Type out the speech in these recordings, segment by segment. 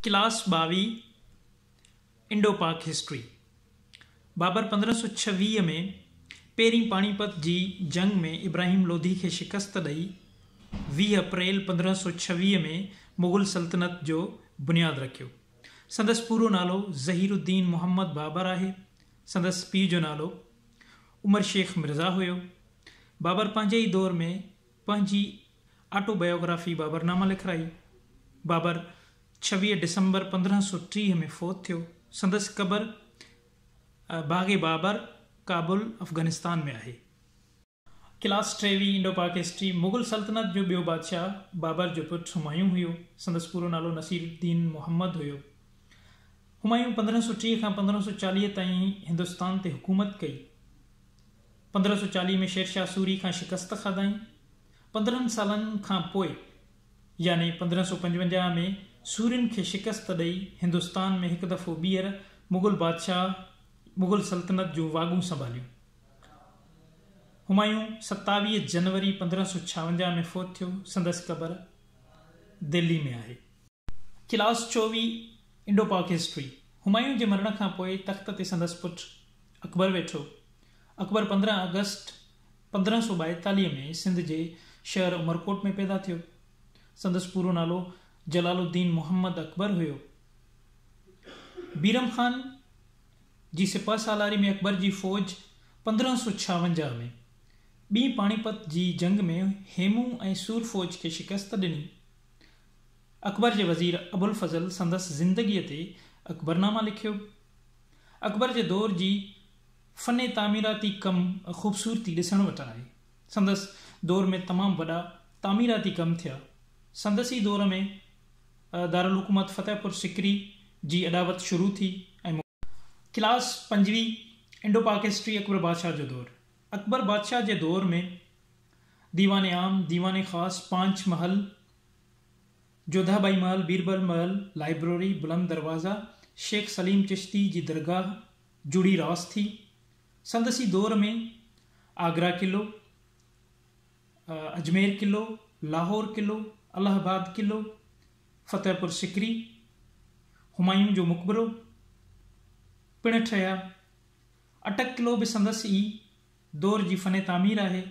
Class ٻاويهه Indo Pak history Babar پندرهن سؤ ڇويهه ۾ پهرين پاڻي پت جي جنگ ۾ ابراهيم لوڌي کي شڪست ڏئي ويهه اپريل پندرهن سؤ ڇويهه ۾ مغل سلطنت جو بنياد رکيو سندس پورو نالو ظهير الدين محمد بابر آهي سندس پيء جو نالو عمر شيخ مرزا هيو بابر پنهنجي ئي دور ۾ پنهنجي آٽو بائيوگرافي بابر نامه لکرائي. بابر ڇويهه ڊسمبر پندرهن سؤ ٽيهه ۾ فوت ٿيو. سندس قبر باغ بابر، ڪابل، افغانستان ۾ آهي. ڪلاس ٽيوي، انڊو پاڪ هسٽري، مغل سلطنت جو ٻيو بادشاهه بابر جو پٽ همايون هيو. سندس پورو نالو نصير الدين محمد هيو. همايون پندرهن سؤ ٽيهه کان پندرهن سؤ چاليهه تائين هندستان تي حڪومت ڪئي. پندرهن سؤ چاليهه ۾ شيرشاهه سوري کان شڪست کاڌائين. پندرهن سالن کان پوء يعني پندرهن سؤ پنجونجاهه ۾ سورين کي شڪست ڏئي هندستان ۾ هڪ دفعو ٻيهر مغل بادشاهه مغل سلطنت جون واڳون سنڀاليون. همايون ستاويهه جنوري پندرهن سؤ ڇاونجاهه ۾ فوت ٿيو. سندس قبر دهلي ۾ آهي. ڪلاس چوويهه انڊو پاڪ هسٽري همايون جي مرڻ کان پوء تخت تي سندس پٽ اڪبر ويٺو. اڪبر پندرهن آگسٽ پندرهن سؤ ٻائيتاليهه ۾ سنڌ جي شهر عمرڪوٽ ۾ پيدا ٿيو. سندس پورو نالو جلال الدين محمد اڪبر هيو. بيرم خان جي سپهه سالاري ۾ اڪبر جي فوج پندرهن سؤ ڇاونجاهه ۾ ٻين پاڻيپت جي جنگ ۾ هيمون ۽ سور فوج کي شڪست ڏني. اڪبر جي وزير ابوالفضل سندس زندگيء تي اڪبرنامه لکيو. اڪبر جي دور جي فن تعميراتي ڪم خوبصورتي ڏسڻ وٽ آهي. سندس دور ۾ تمام وڏا تعميراتي ڪم ٿيا. سندس ئي دور ۾ دارالحڪومت فتح پور سڪري جي اڏاوت شروع ٿي ۽ مڪمل ٿي. ڪلاس پنجوين، انڊو پاڪ هسٽري اڪبر بادشاهه جو دور، اڪبر بادشاهه جي دور ۾ ديوان عام، ديوان خاص، پانچ محل، جوڌا ٻائي محل، بيربل محل، لائبرري، بلند دروازه، شيخ سليم چشتي جي درگاهه، جوڙي راس ٿي. سندس ئي دور ۾ آگرا قلعو، اجمير قلعو، لاهور قلعو، الهه آباد قلعو، فتح پور سڪري، همايون جو مقبرو، پڻ ٺهيا. اٽڪ قلعو به سندس ئي دور جي فن تعمير آهي.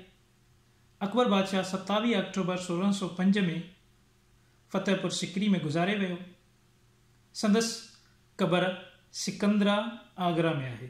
اڪبر بادشاهه ستاويهه آڪٽوبر سورهن سؤ پنج ۾ فتح پور سڪري ۾ گذاري ويو. سندس قبر سڪندرا آگرا ۾ آهي.